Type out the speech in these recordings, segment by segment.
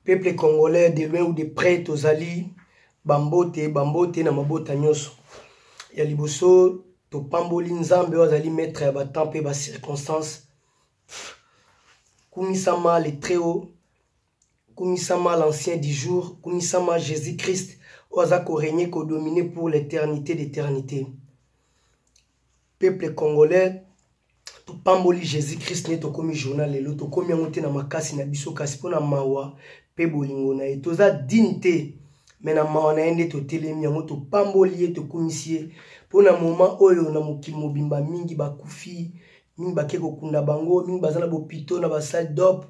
peuple congolais de loin ou de près tozali bambote bambote na mabota nyonso ya liboso topamboli nzambe oyo azali maître ya batemp mpe bacirconstance kumisama le très haut kumisama l'ancien du jour kumisama jésus christ oyo aza koregne kodomine pour l'éternité d'éternité peuple congolais topamboli jésus krist nde tokomi journal lelo tokomi yango te na makasi na biso kasi mpo na mawa mpe bolingo na ye toza dine te me na mawa na ye nde totelemi yango topamboli ye tokumisi ye mpo na moma oyo na mokili mobimba mingi bakufi mingi bake kokunda bango mingi baza na bopito na basale dop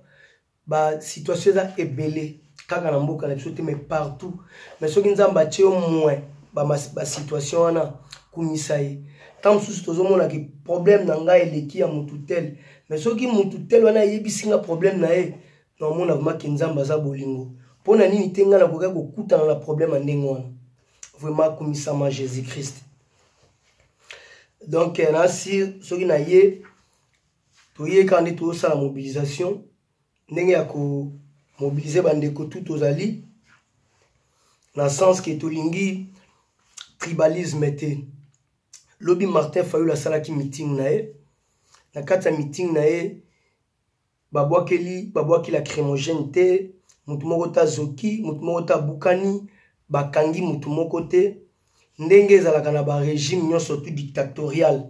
ba situation eza ebele kaka na mboka na biso te mais partout mais soki nzambe atie yo moins basituation ba wana kumisa ye ntango mosusu tozomona ke problème na ngai eleki ya motu tel mais soki motu tel wana ayebisi nga problème na ye naomona vraimen ke nzambe aza bolingo mpo na nini te ngai nakokaki kokutana na problème ya ndenge wana vraimen akumisama jésus christ donc eh, nasi soki na ye toye kaka nde tozosala mobilisation ndenge ya komobilize bandeko tu tozali na sens ke tolingi tribalisme te lobi martin fayul asalaki meeting na ye na kati ya meeting na ye babwakeli babwaki la crémogène te motu moko te azoki motu moko te abukani bakangi motu moko te ndenge ezalaka na barégime nyonso tu dictatorial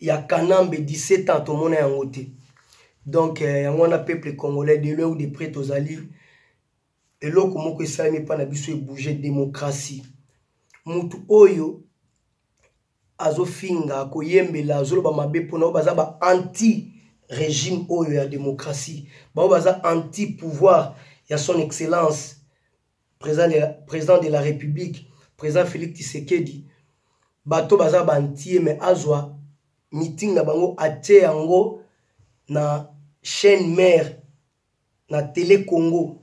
ya kanambe 17 ans tomona yango te donc eh, yango wana peuple congolais de loin ou de près tozali eloko moko esalami mpa na biso ebouge démocratie motu oyo azofinga koyembela azoloba mabe mpona oyo baza ba anti régime oyo ya démocratie baoyo baza anti pouvoir ya son excellence président de la, président de la république président félix tisekedi bato baza bantie me azwa meeting na bango atie yango na chaîne mare na tele congo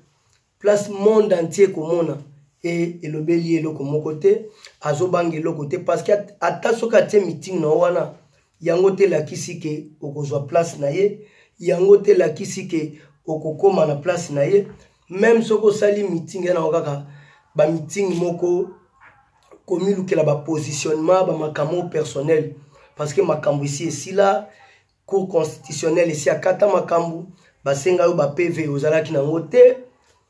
place monde entier komona e elobeli ye eloko moko te azobanga eloko te parce que ata soki atie meeting na yo wana yango te elakisi ke okozwa place na ye yango te elakisi ke okokoma na place na ye meme soki osali meeting ye nango kaka bamiting moko komilukela bapositionnement bamakambo personnel parce que makambo esi esila cour constitutionnel esi akata makambo basenga yo bapv ozalaki nango te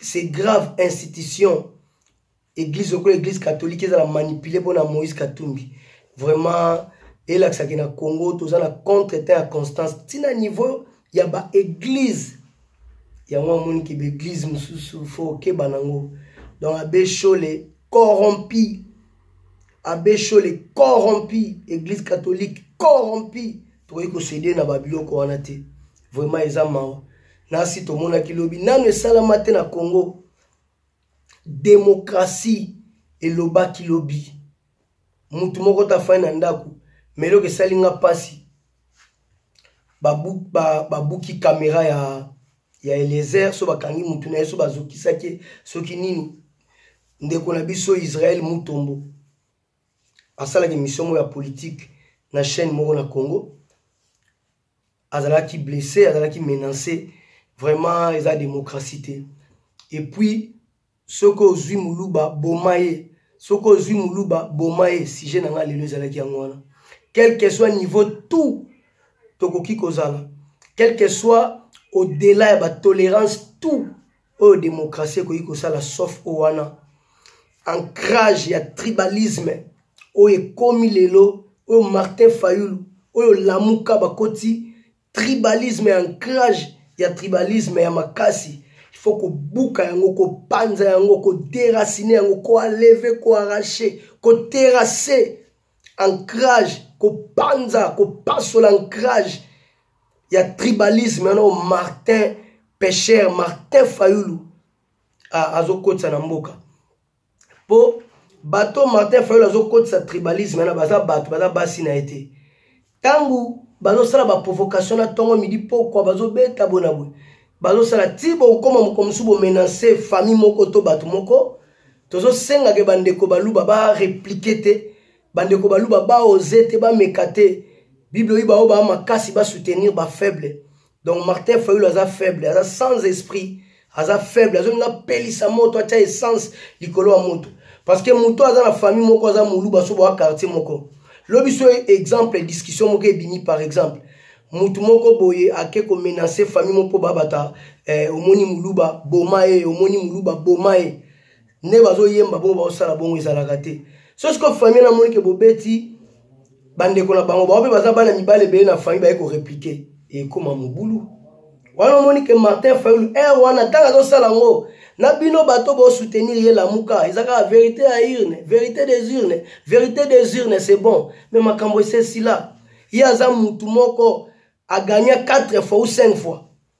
c'est grave institution église lokola église catholique ezala manipule mpona moïse katumbi vraiment elakisaki na congo toza na contre temps ya constance ntina niveau ya baeglise yango amoni ke baeglise mosusu fo okeba nango donc abe shole corrompi abe shole corrompi église catholique corrompi tokoki kosede na babiloko wana te vraiment eza mawa nasi tomonaki lobi nano esalama te na congo demokrasi elobaki lobi motu moko tafai na ndako me eloko esali nga mpasi babuki ba, ba kamera ya, ya elezer so bakangi motu na ye so bazokisaki ye soki nini ndeko na biso israel mutombo asalaka emission moko ya politike na chaîne moko na congo azalaki blesse azalaki menace vraiment eza démocratie te epuis soki ozwi moluba boma ye soki ozwi moluba boma ye sujet na ngai lelo ezalaki yango wana quelque soit niveau tout tokoki kozala quelque soit au-delà ya batolerance tout oyo demokrasi ekoki kosala sauf oyo wana ancrage ya tribalisme oyo ekomi lelo oyo martin fayulu oyo lamuka bakoti tribalisme ya ancrage ya tribalisme ya makasi fo kobuka yango kopanza yango koderasine yango koaleve koarrache koterase ancrage kopanza kopasola ancrage ya tribalisme yanao martin pecher martin fayulu azokotisa na mboka mpo bato martin fayulu azokotisa tribalisme yana baza bato baza basi na ye te ntango bazosala baprovocation na ntongo midi pokwa bazobeta boye na boye bazosala ti bokokoma mokolo mosusu bomenance famille moko to bato moko tozosengake bandeko baluba bareplike te bandeko baluba baoze te bameka te bible oyo baoyo baa makasi basoutenir bafaible donc martin fayulu aza faible aza sans esprit aza faible azongi apelisa moto atya essence likolo ya moto parce que moto aza na famille moko aza moluba so boa quartier moko lobi so exemple discussion moko ebimi par exemple motu moko boye ake komenace famille moko mpo babata eh, omoni moluba boma ye omoni moluba boma ye nde bazoyemba bongo baosala bongo ezalaka te so sikoyo famille namoni ke bobeti bandeko na bango bango mpe baza bana mibale ebele na famille baye koreplike ekoma mobulu wana omoni ke martin fayulu ere eh, wana ntango azosala yango na bino bato bosoutenir ye lamuka eza kaka verité ya urne verité des urnes verité des urnes c'est bon mais makambo esesila ye aza mutu moko agagna 4 fois ou 5 fois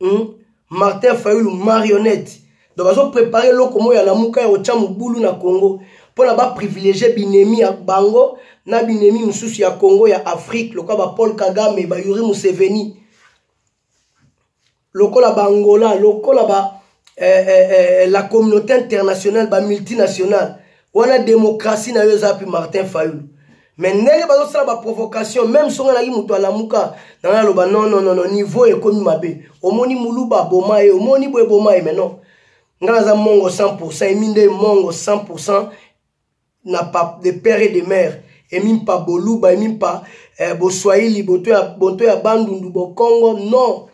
hmm? martin fayulu marionnette donc bazoprépare eloko moko ya lamuka ya kotya mobulu na congo mpona baprivilégie binemi ya bango na binemi mosusu ya congo ya afrique lokola bapaul kagame bayuri museveni lokola baangola lokola ba eh, eh, eh, la communauté internationale bamultinationale wana démocratie na yo eza mpe martin fayulu mais ndenge bazosala baprovocation meme soki nalaki moto alamuka na ngai aloba non non non niveau ekomi mabe omoni muluba aboma ye omoni boye eboma ye mais non ngai naza mongo 100 emi nde mongo 100 na pa, de père et de mère et même pas boluba et même pas eh, boswahili boto ya, boto ya bandundu bokongo non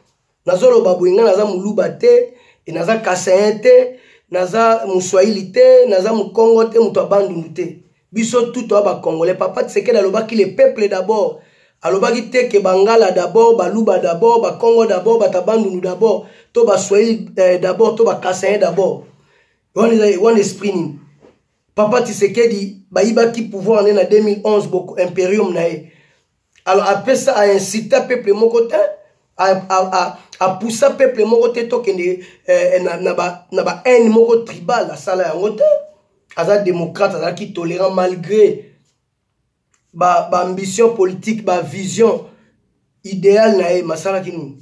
nazoloba boye ngai naza moluba te e naza kasayen te naza moswahili te naza mokongo te moto ya bandundu te biso tout oya bacongolais papa tisekedi alobaki le peuple d'abord alobaki te ke bangala d'abord baluba d'abord bakongo d'abord bata bandundu d'abord to baswahili eh, d'abord to bakasayen d'abord wana esprit nini papa tisekedi bayibaki pouvoir ne na 2011 boko imperium na ye alors apesa aincita peuple moko te apusa peuple moko te tokende eh, na bahaine moko tribal asala yango te aza démocrate azalaki tolérant malgré baambition ba politique bavision idéal na ye masalaki nini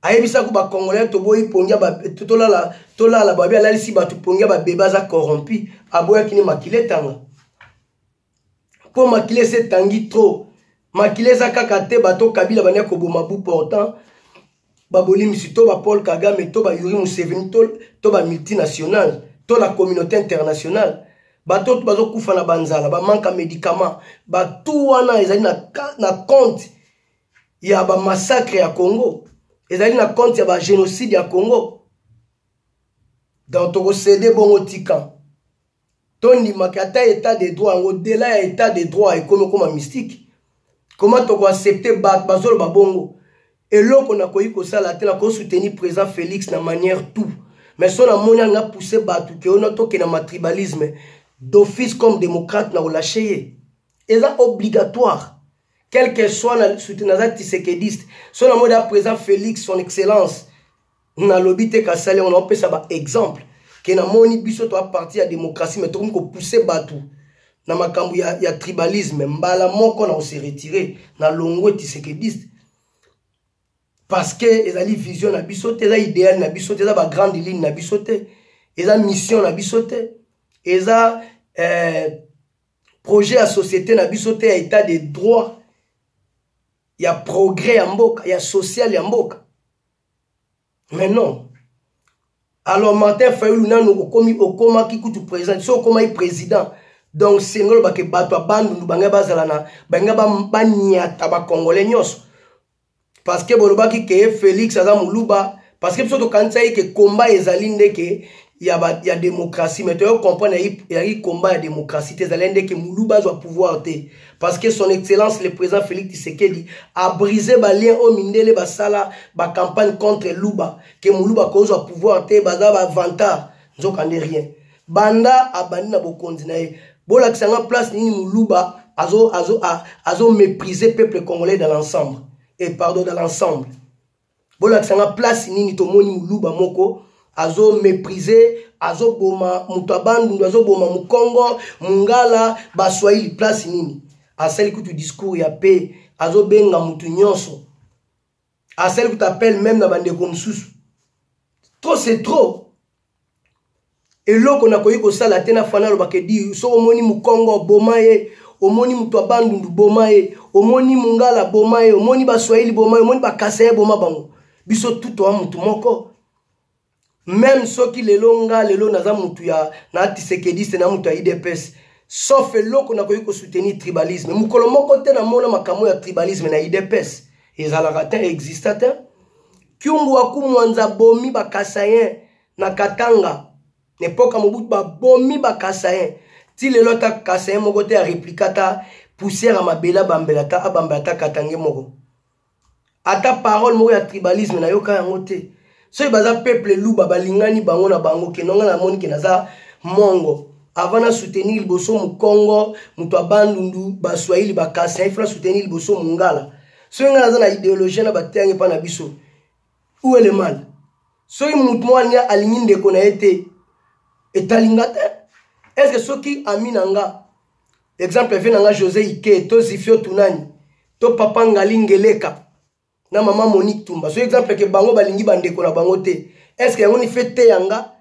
ayebisaki ba congolais toboyi pongi ya tolala tolala babi alalisi bato pongi ya babebe aza corrompu aboyaki ni makila etanga mpo makila esi etangi trop makila eza kaka te bato kabila bania koboma bu portant babolimisi to ba paul kagame to ba yuri museveni to, to ba multinationale to la communauté internationale bato oyo bazokufa na banzala bamanka médicament bato wana ezali na, na compte ya ba massacre ya Congo ezali na compte ya ba génocide ya Congo donc tokosede bongo tika tondimaka ata état de droit yango dela ya état de droit ekomi okoma mystique comment tokoaccepte bato bazoloba bongo eloko nakoki kosala te nakosoutenir président félix na manière tout mais so namoni anga pousse bato ke ona tokenda matribalisme d'office comme démocrate na kolashe ye eza obligatoire quel que soit na suti naza tisekediste so na mode ya présent félix son excellence nalobi te kasali yango naopesa baexemple ke namoni biso toa parti ya démocratie mai tokomi kopousse bato na makambo ya, ya tribalisme mbala moko na kose retire na longwe tisekediste parce que ezali vision na biso te eza idéal na biso te eza bagrande ligne na biso te eza mission na biso te eza eh, projet ya société na biso te ya état de droit ya progrès ya mboka ya social ya mboka mais non alors martin fayulu nanu okomi okomaki kutu président so okomaki président donc senga olobake bato ya bandundu bangai bazala na bangai banyata bakongole nyonso parce que bolobaki ke Felix aza muluba parce que biso tokanisaki ke combat ezali ndeke ya, ba, ya démocratie mais toyo comprendre ezali combat ya démocratie te ezali ndeke muluba azwa pouvoir te parce que son excellence le président Félix Tshisekedi a brisé ba lien oyo mindele basala ba campagne contre luba ke muluba kozwa pouvoir te baza ba vantard nzoka nde rien banda abandi na bokonzi na ye bolakisa nga place nini moluba azo, azo, a, azo mépriser peuple congolais dans l'ensemble et eh, pardon dans l'ensemble bolakisa nga place nini tomoni moluba moko azo mépriser azoboma moto ya bandundu azoboma mokongo mongala baswahili place nini asali kutu discours ya pe azobenga moto nyonso asali kuta appel meme na bandeko mosusu trop c'est trop eloko nakoki kosala te na fana alobaka edi soki omoni mokongo boma ye omoni moto ya bandundu boma ye omoni mongala boma ye omoni baswahili boma ye omoni bakasaye boma bango biso tutoa motu moko meme soki lelo nga lelo naza mutu ya na tisekediste na mutu ya idps sauf eloko nakoki kosoutenir tribalisme mokolo moko te namona makambo ya tribalisme na idps ezalaka te exista te kyungu akumwanza bomi bakasayen na katanga na epoka mobutu babomi bakasayen ti lelo ata kasayen moko te areplika ata poussière ya mabele abambela ata abambela ata katange moko ata parole moko ya tribalisme nayoka yango te soki baza peuple luba balingani bango na bango keno ngai namoni ke naza mongo avant na soutenir liboso mokongo moto ya bandundu baswahili bakasi nayefi na soutenir liboso mongala soki ngai naza na ideologie na bateyange mpa na biso ou le mal soki moto mwani alingi ndeko na ye te etali nga te estce soki ami na nga exemple vie na nga josé ike to zifio tunani to papa ngali ngeleka na mama monique tumba so exemple ke bango balingi bandeko na bango te est ce que yango ni fe te yanga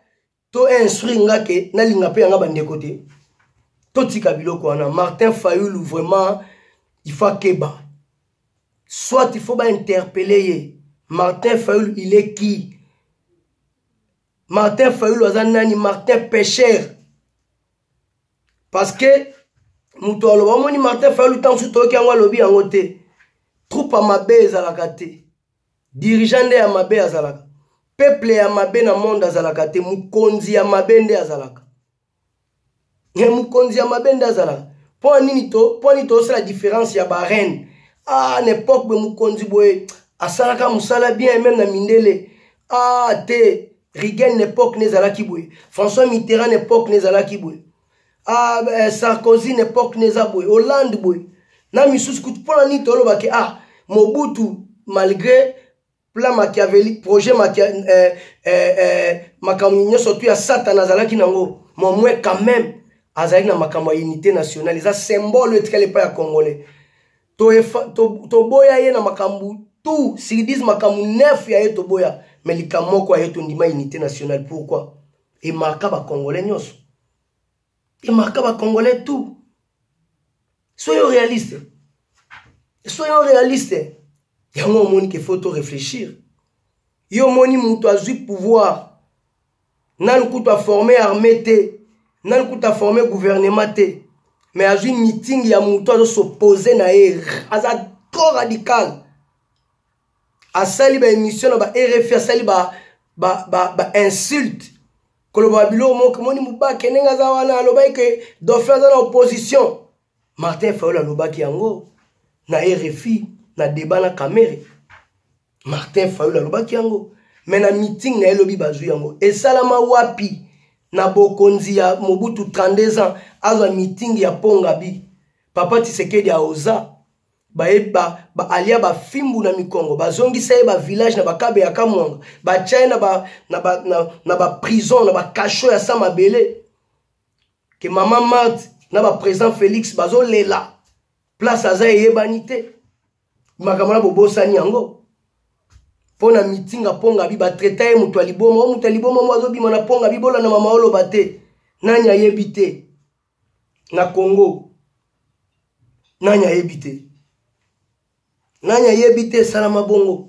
to instruire nga ke nalinga mpe yanga bandeko te totika biloko wana martin fayulu vraiment il faut akeba soit il faut bainterpele ye martin fayulu il est qui martin fayulu aza nani martin pêcheur parce que moto aloba omoni martin fayulu ntango mosusu toyoki yango alobi yango te troupe ya mabe ezalaka te dirigeant nde ya mabe azalaka peuple ya mabe na monde azalaka te mokonzi ya mabe nde azalaka e mokonzi ya mabe nde azalaka mpo nini to mpo nini tosala différence ya bareine ah na epoque boye mokonzi boye asalaka mosala bien meme na mindele ah te Reagan n'epoque n'ezalaki boye. François Mitterrand n'epoque n'ezalaki boye. Ah, eh, Sarkozy n'epoque n'eza boye. Hollande boye. Na misusu kutu pona ni toloba ke ah Mobutu malgré plan machiavélique projet machia, eh, eh, eh, makambo nyonso tu ya satana azalaki nango momwe quand même azalaki na makambo ya unité nationale eza symbole etikali epai ya congolais toboya to, to ye na makambo tout siridise makambo nef ya ye toboya me likambo moko ya ye tondima unité nationale pourquoi emarka bacongolais nyonso emarka bacongolais tout soyo réaliste soyo réaliste yango omoni ke faut to réfléchir yo omoni moto azwi pouvoir nanu kutu aforme armée te nanu kutu aforme gouvernement te mais azwi meeting ya moto azosopose na ye aza trop radical asali baémission na ba rfi asali ba, ba, ba, ba insulte koloba biloko moko moni mobake ndenge aza wana alobaki ke dauphin aza na opposition martin fayol alobaki yango na rfi na debat na kamere martin fayulu alobaki yango me na meeting na ye lobi bazwi yango esalama wapi na bokonzi ya mobutu 32 ans azwa meeting ya pongabi papa tisekedi aoza bayeba baalia bafimbu na mikongo bazongisa ye bavillage na bakabe ya kamwanga batya ye na baprison na bakasho ya sa mabele ke mama marte na bapresident félix bazolela place aza eyebani te makambo na bobosani yango mpo na mitinga mponga bi batraita ye moto ya liboma o moto ya liboma mo azobima na mponga bi bolanda mama oloba te nani ayebi te na congo nani ayebi te nani ayebi te esalama bongo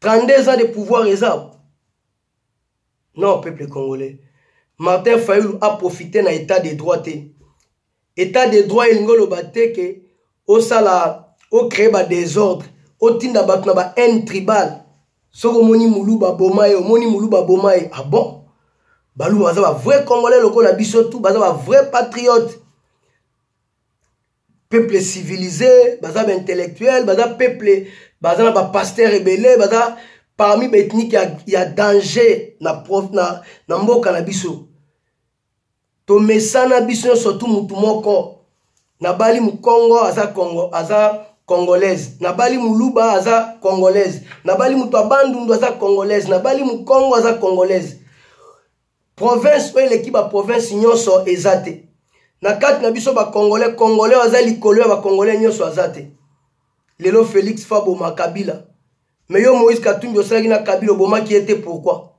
32 ans de pouvoir eza non peuple congolais martin fayulu aprofite na état de droit te état de droit elingi oloba te ke osala ocree badésordre otinda bato na ba haine tribale soki omoni moluba aboma ye omoni moluba aboma ye ah bon baluba baza bavrai congolais lokola biso tu baza bavrai patriote peuple civilisé baza ba intellectuel baza peuple baza na bapasteur ebele baza parmi baethnike ya, ya danger na, prof, na, na mboka na biso tomesana biso nyonso tu motu moko nabali mokongo aza kongo aza congolaise nabali moluba aza congolaise nabali moto ya bandundu aza congolaise nabali mokongo aza congolaise province oyo eleki baprovince nyonso eza te na kati na biso bacongolais congolais oyo aza likolo ya bacongolais nyonso aza te lelo félix faboma kabila me yo moïse katumbi osalaki na kabila obomaki ye te pourkui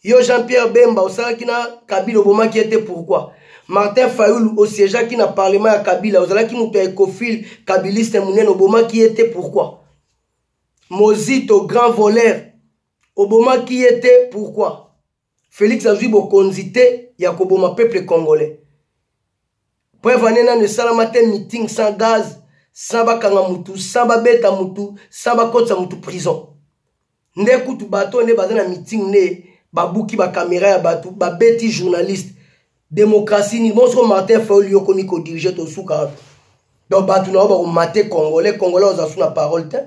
yo jean pierre bemba osalaki na kabila obomaki ye te pourkui martin fayulu osiegeaki na parlement ya kabila ozalaki moto ya ecofile kabiliste monene obomaki ye te pourkui mozito grand voleur obomaki ye te pourkui felix azwi bokonzi te ya koboma peuple congolais preuve ane nano esalama te meeting sans gaz sans bakanga mutu sans babeta mutu sans bakotisa mutu prison nde kutu bato nde baza na meeting nde babuki bakamera ya bato babeti journaliste Démocratie ni bonso Martin Fayulu yo komi ko diriger to suka. Donc bato na yo bako mate congolais, congolais oza sous na parole te.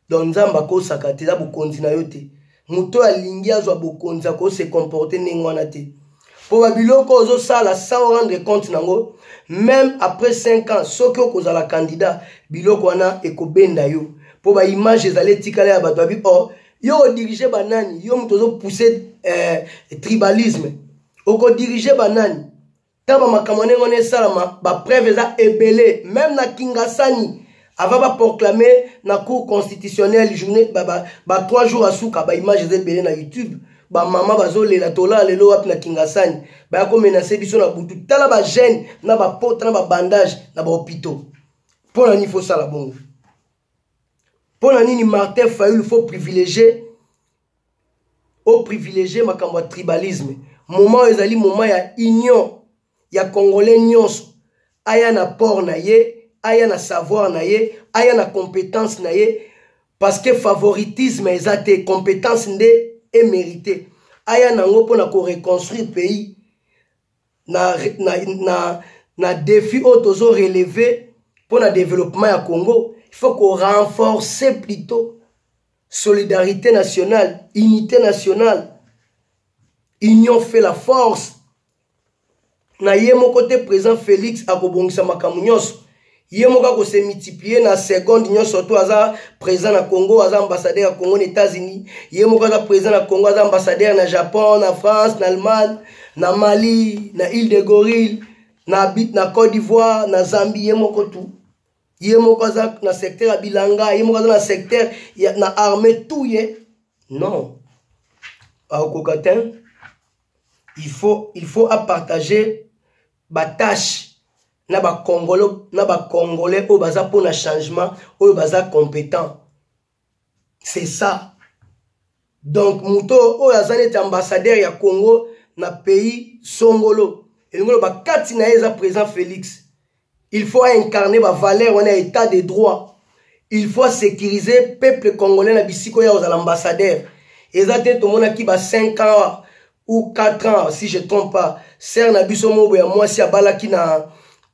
Donc nzambe akosaka te eza bokonzi na yo te. Moto oyo alingi azwa bokonzi ako se comporter ndenge wana te. mpo babiloko ozosala sans rendre compte nango meme après 5 ans soki okozala candidat biloko wana ekobenda yo mpo baimage ezali etikala ya bato babi or oh, yo odirige banani yo moto ozopousse eh, tribalisme okodirige banani ntango bamakambo ndenge wana esalama bapreuve eza ebele meme na kingasani avant baproclame na cour constitutionnelle journée ba, ba, ba trois jours asuka baimage eza ebele na youtube bamama bazolela tolala lelo wapi na kingasani baya komenase biso na butu tala bagene na bapota na babandage na bahopitaux mpo na nini fosala bongo mpo na nini martin fayulu fo privilégie oprivilégie makambo ya tribalisme moment oyo ezali moment ya union ya congolais nyonso aya na port na ye aya na savoir na ye aya na compétence na ye parce que favoritisme eza te compétence nde emérite aya na yango mpo na koreconstruire pays na, na, na, na défi oyo tozo relever mpo na développement ya congo il faut ko renforcer plutôt solidarité nationale unité nationale union fait la force na ye moko te président félix akobongisa makambo nyonso ye moko akose multiplier na seconde nyonso to aza présent na congo aza ambassadeur ya congo na états-unis ye moko aza présent na congo aza ambassadeur na japon na france na allemagne na mali na ile de gorille na, na côte d'ivoire na zambie ye moko tout ye moko aza na secteur ya bilanga ye moko aza na secteur ya, na armée tout ye non aokoka te il faut, il faut apartager batache na bakongolo na bakongolais oyo baza mpo na changement oyo baza competent c'est ça donc moto oyo aza neti ambassadeur ya congo na pays songolo elingi oloba kati na ye eza président félix il faut aincarne bavaleur wana ya état de droit il faut asécurise peuple congolais na bisika oyo akozala ambassadeur eza te tomonaki ba 5 ans ou 4 ans si je trompe pas sœur na biso moko ya mwasi abalaki na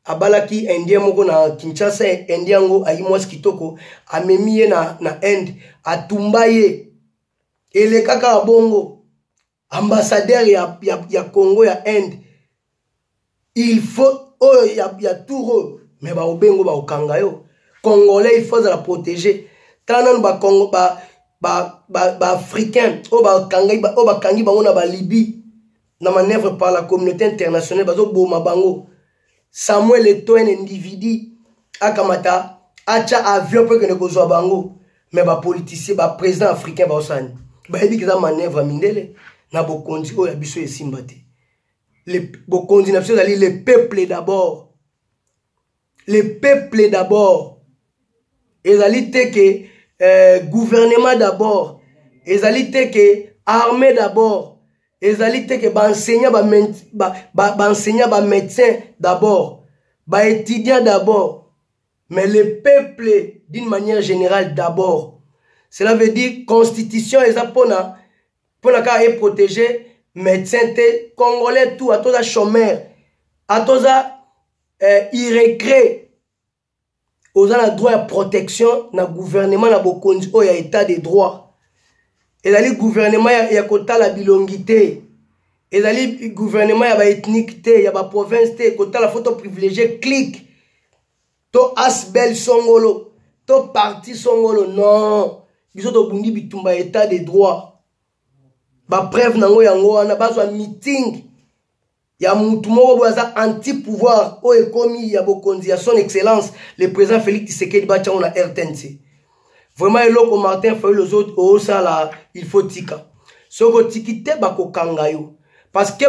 abalaki indien moko na kinshasa indien yango ayi mwasi kitoko amemi ye na, na inde atumba ye elekaka bongo ambassadeur ya, ya, ya congo ya inde il faut oyo ya, ya tour oyo me baobengo baokanga yo congolais il faut azala protégé tala nanu bacongo ba, ba, ba, ba africain oyo bakangi ba, bango na balibie na manœuvre par la communauté internationale bazoboma bango samuel etoine ndividi akamata atya avion mpo ekende kozwa bango me bapoliticien baprésident africain baosani bayebi keza manœuvre mindele na bokonzi oyo ya biso esimba te le bokonzi na biso ezali le peuple d'abord le peuple d'abord ezali te ke euh, gouvernement d'abord ezali te ke armée d'abord ezali te ke baenseignant baenseignant ba, ba, ba bamédecin d'abord baétudiant d'abord mais le peuple d'une manière générale d'abord cela veut dire constitution eza mpona mpo na kaka eprotege médecin te congolais tout ata oza chômeur ata oza eh, irecret oza na droit ya protection na gouvernement na bokonzi oyo ya état de droit ezali gouvernement ya, ya kotala bilongi te ezali gouvernement ya baethnike te ya baprovince te kotala foto privilégie clique to asbel songolo to parti songolo non biso tobundi bitumba ya état de droit bapreuve na yango yango wana bazwa meeting ya mutu moko boye aza anti pouvoir oyo ekomi ya bokonzi ya son excellence le président félix tisekedi batya yango na rtnc vraiment eloko martin fayul ozosala il faut tika soki otiki te bakokanga yo parce que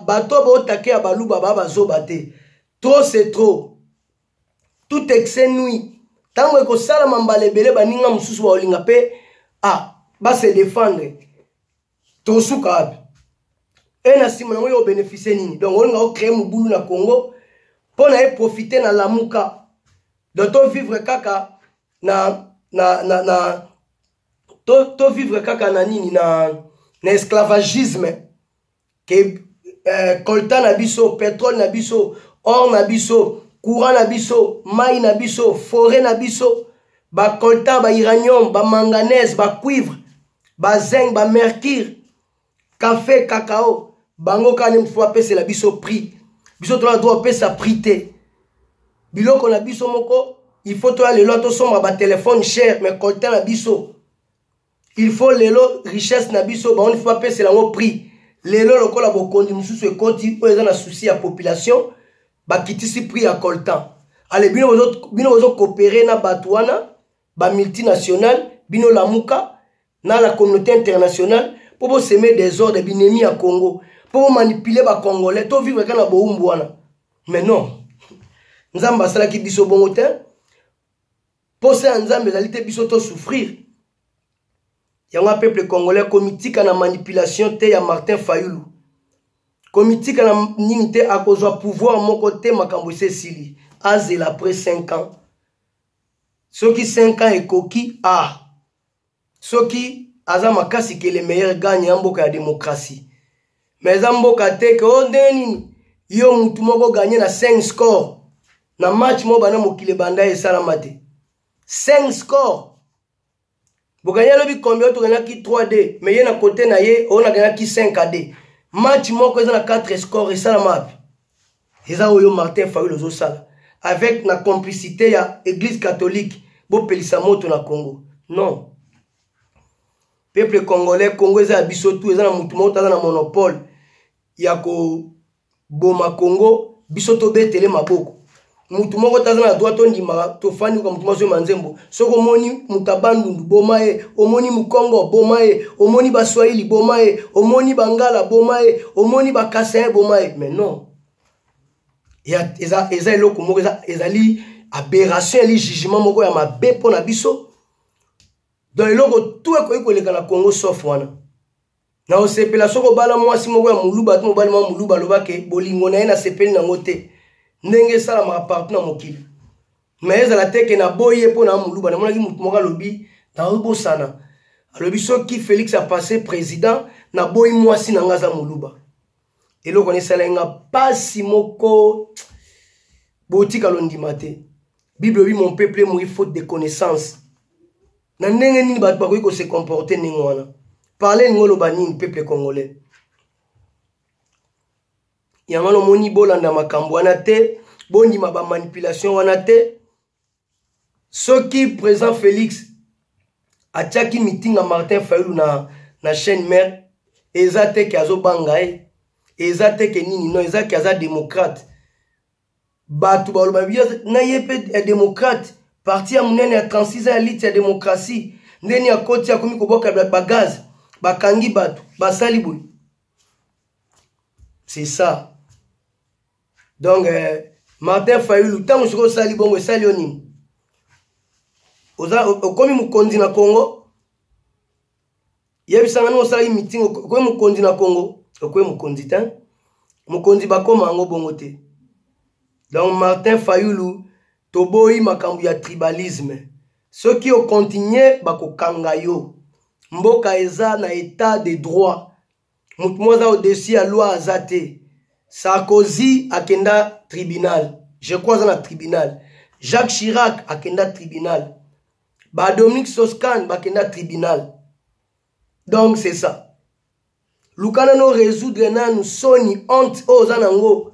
bato baotake ya baluba ba bazoba te trop c'est trop tout excès nuit ntango ekosalama mbala ebele baninga mosusu baolinga mpe ah, base defendre tosuka wapi e na nsima yango yo obeneficie nini donc olinga ocree mobulu na congo mpo na eprofite na lamuka donc tovivre kaka na na na, na tovivre to kaka na nini na na esclavagisme ke eh, colta na biso petrole na biso or na biso courant na biso mai na biso foret na biso bacolta bairanium bamanganese bacuivre bazinc bamercure kafe kakao bango kani mosusu bapesela biso prix biso tolaa droit opesa prix te biloko na biso moko il faut toya lelo tosomba batelefone cher mais colta na biso il faut lelo richesse na biso bango faut bapesela yango prix lelo lokola bokonzi mosusu ekoti oyo eza na souci ya population bakitisi prix ya coltan ale bino bozocoopere na bato wana bamultinationale bino lamuka na la communauté internationale mpo boseme desordre binemi ya congo mpo bomanipule bacongolais tovivre kaka na bowumbu wana mais non nzambe asalaki biso bongo te Posa ya Nzambe ezali te biso to souffrir. Yango peuple congolais komitika na manipulation te ya Martin Fayulu. Komitika na nini te akozwa pouvoir moko te makambo esesili. Azela après 5 ans. Soki 5 ans ekoki ah soki aza makasi ke le meilleur gagne ya mboka ya démocratie mais eza mboka te ke o oh, ndenge nini yo mutu moko gagne na 5 score na match moko banda mokili ebanda ye esalama te 5 score boganye alobi combien toganaki 3 d mais ye na kote na ye oyo naganaki 5 ad match moko eza na 4 score esalama wapi eza oyo martin fayulu ozosala avec na complicité ya église catholique bopelisa moto na congo non peuple congolais congo eza ya biso tu eza na motu moko taza na monopole ya koboma congo biso tobetele maboko motu moko taza na droit tondimaka tofandi koka motu mazoyema nzembo soki omoni mutabandundu boma ye omoni mukongo boma ye omoni baswahili boma ye omoni bangala boma ye omoni bakasayen boma ye mais non eza, eza eloko moko eza, ezali aberration eli jugement moko ya mabe mpo na biso donc eloko tu ekoki koleka na congo sof wana na osepela soki obala mwasi moko ya moluba to mobali mwa moluba aloba ke bolingo na ye nasepeli nango te ndenge esalamaka partout na mokili me ezala te ke naboyi ye mpo na moluba namonaki motu moko alobi naobosana alobi soki félix apasse président naboyi mwasi na ngai aza moluba eloko na esalaki nga mpasi moko botika londima te bible obi mon peuple moyi faute de connaissance na ndenge nini bato bakoki kose comporte ndenge wana parle elingi oloba nini peuple congolais yango wana omoni bolanda makambo wana te bondima bamanipulation wana te soki président félix atiaki mitinga martin fayulu na, na chaîne mare eza te ke azobanga ye eza te ke nini no eza ke aza démocrate bato baloba biyo na ye mpe ya demokrate parti ya monene ya 36 ans ya lite ya demokratie ndeni akoti akomi koboka bagaz bakangi bato basali boye c'est ça donc euh, martin fayulu ntango soki osali bongo esali yo nini okomi mokonzi na congo yebisa nga ndenge osalaki mitingi okoye mokonzi na congo okoye mokonzi te mokonzi bakoma yango bongo te donc martin fayulu toboyi makambo ya tribalisme soki okontinue bakokanga yo mboka eza na etat de droit motu moko aza au-dessus ya loi aza te sarkozy akenda tribunal je crois aza na tribunal jacques chirac akenda tribunal ba dominique soscan bakenda tribunal donc c'est ça luka nano résoudre nanu soni honte oyo oza nango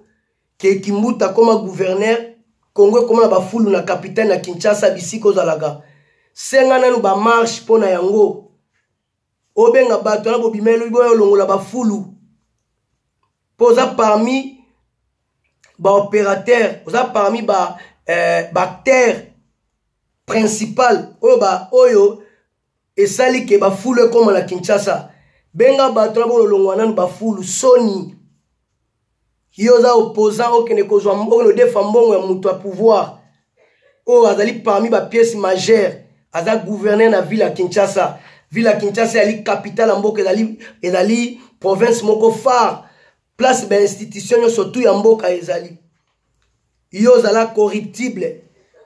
ke kimbuta akoma guverner congo ekoma na bafulu na capitale na kinshasa bisika ozalaka senga nanu bamarche mpo na yango obenga bato na bobima elobi boya olongola bafulu mpo oza parmi baopérateur oza parmi ba eh, bacteur principal oyo ba oyo esali ke bafulu ekóma na kinshasa benga bato na bololongwa nanu bafulu soni yo oza opposant okende kozwa okende odefa mbongo ya moto ya pouvoir oyo azali parmi bapièce majeure aza gouverneur na ville ya kinshasa ville ya kinshasa ezali capitale ya mboka ezali, ezali province moko phare place bainstitution nyonso tu ya mboka ezali yo ozala corruptible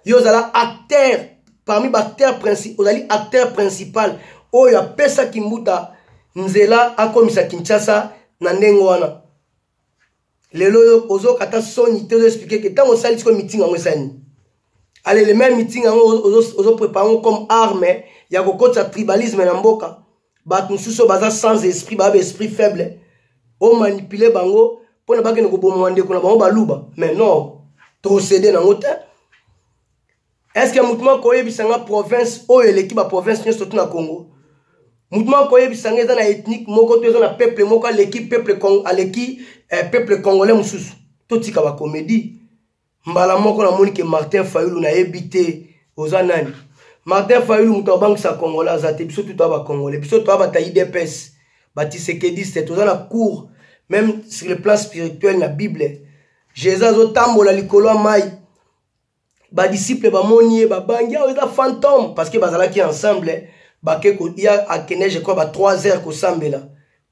yo ozala acteur parmi baacteur princi ozali acteur principal oyo apesaki mbuta nzela akomisa kinshasa na ndenge wana lelo oyo ozokata soni te ozoexplike ke ntango osali sikoyo mitingi yango esani alele meme mitingi yango ozoprepare yango comme arme ya kokotisa tribalisme na mboka bato mosusu oyo baza sans esprit baa baesprit faible omanipule bango mpo na bakende koboma ndeko na bango baluba mais non tokosede nango te estce motu moko oyebisa nga province oyo eleki baprovince nyonso tu na congo motu moko oyebisa nga eza na ethnike moko to eza na peuple moko aleki peuple aleki eh, peuple congolais mosusu totika bacomédie mbala moko namoni ke martin fayulu nayebi te oza nani martin fayulu moto abangisa congolais aza te biso tutu aba congolais biso toa bata idps batisekediste toza na cour même sur le plan spirituel na bible jesus azotambola likolo ya mai badisiple bamoni ye babangi awa eza fantome parce que bazalaki ensemble bake ya akeneje kwa ba 3 heures kosambela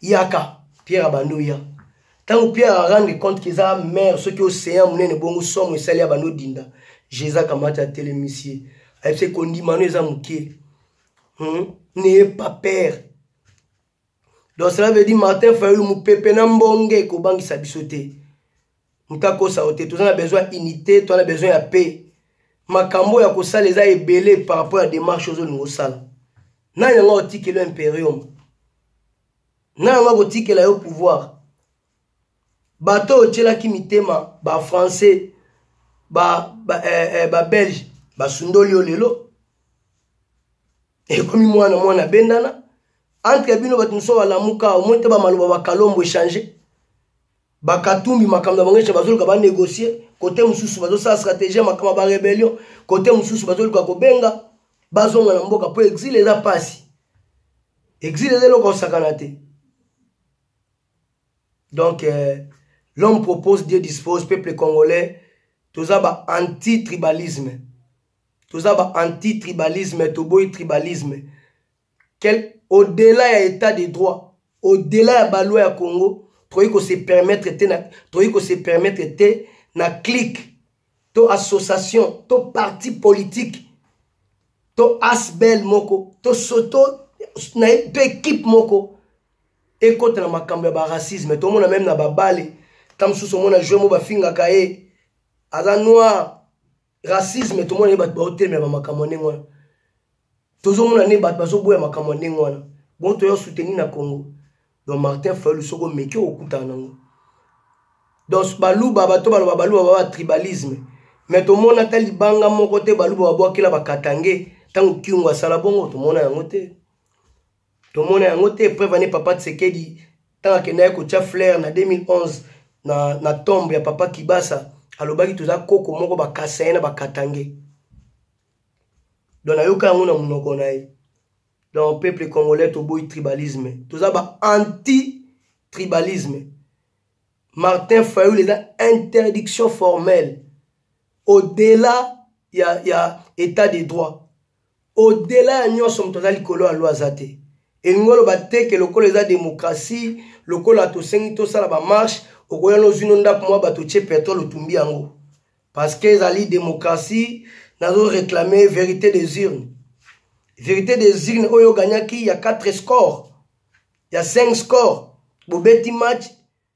yaka pierre abandi oya ntango pierre arendre compte ke eza mare soki océan monene bongo somo esali ya bando dinda jésus akamati atelemisi ye ayebisi ekondimano eza moke hmm? neye papere donc cela veut dire martin fayulu mopepe na mbonge ekobangisa biso te nkakosa yo te toza na besoin ya unité toza na besoin ya paix makambo ya kosala eza ebele par rapport ya démarche ozolinga osala nani yango akotikela yo imperium nani yango akotikela yo pouvoir bato oyo otyelaki mitema bafrançais babelge ba, eh, eh, ba basundoli yo lelo ekomi mwana mwana bendana entre bino bato mosusu balamuka omoni te bamaloba bakalombo echange bakatumbi makambo na bango esha bazoluka banegocie kote mosusu bazosala stratégie ya makambo ya barébellion kote mosusu bazoluka kobenga bazonga na mboka mpo exile eza mpasi exile eza eloko osakana te donc euh, l'homme propose dieu dispose peuple congolais toza ba anti tribalisme toza ba anti tribalisme toboyi tribalisme Quel, au delà ya état de droit au delà ya baloi ya congo tokoki ko se permettre te na tokoki ko se permettre te na clique to association to parti politique to asbel moko to soto na ye mpe ekipe moko ekota na makambo ya baracisme tomona meme na babale ta mosusu omona jeu mo bafingaka ye aza noir racisme tomona nde bato baotemela bamakambo ya ndenge wana tozomona nde bato bazoboya makambo ya ndenge wana bongo toya soutenir na congo donc martin fayulu soki omeki okokutana nango donc baluba bato baloba baluba baba tribalisme me tomona ata libanga moko te baluba babwakela bakatange ntango kiungo asala bongo tomona yango te tomona yango te preuve ane papa tsekedi ntango akendaki kotya flaire na 2011 na, na tombe ya papa kibasa alobaki toza koko moko bakasaye na bakatange don ayoka yango na monoko na ye don peuple congolais toboyi tribalisme toza ba anti tribalisme martin fayul eza interdiction formelle au-delà ya, ya état de droit odela ya nyonso moto aza likolo ya loi aza te elingi oloba te ke lokola eza demokrasi lokola tosengi tosala bamarshe okoya nozwi no ndako mwa bato tye petrole otumbi yango parce que ezali demokrasi nazo réclame vérité des urnes vérité des urnes oyo oganyaki ya 4 score ya 5 score bobeti match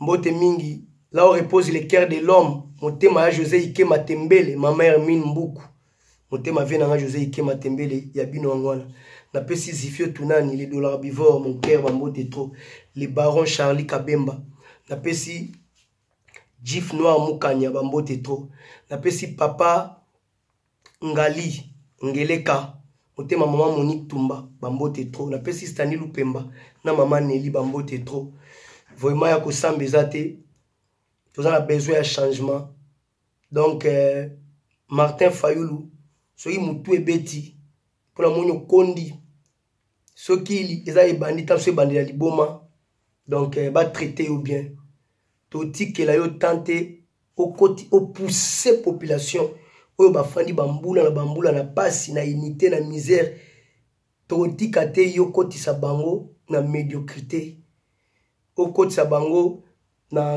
Mbote mingi, là où repose le cœur de l'homme, motema ya José Ike Matembele, ma mère Mine Mbuku. Motema vie nanga José Ike Matembele ya bino yango wana. Napesi Zifio Tunani, le dollar bivore, mon cœur ba mbote trop. Le baron Charlie Kabemba. Napesi Jif Noir Mukanya ba mbote trop. Napesi papa ngali ngeleka motema mama monique tumba bambote trop napesi stani lupemba na mama neli bambote trop vraiment ya kosamba eza te toza na besoin ya changement donc euh, martin fayulu soki motu ebeti mpo namoni okondi soki eza ebandi ntango so ebandela liboma donc eh, batraite yo bien totikela yo temps te okoti opousse population oyo bafandi bambula na bambula na mpasi na unité na misère tokotika te yo okotisa bango na médiocrité okotisa bango na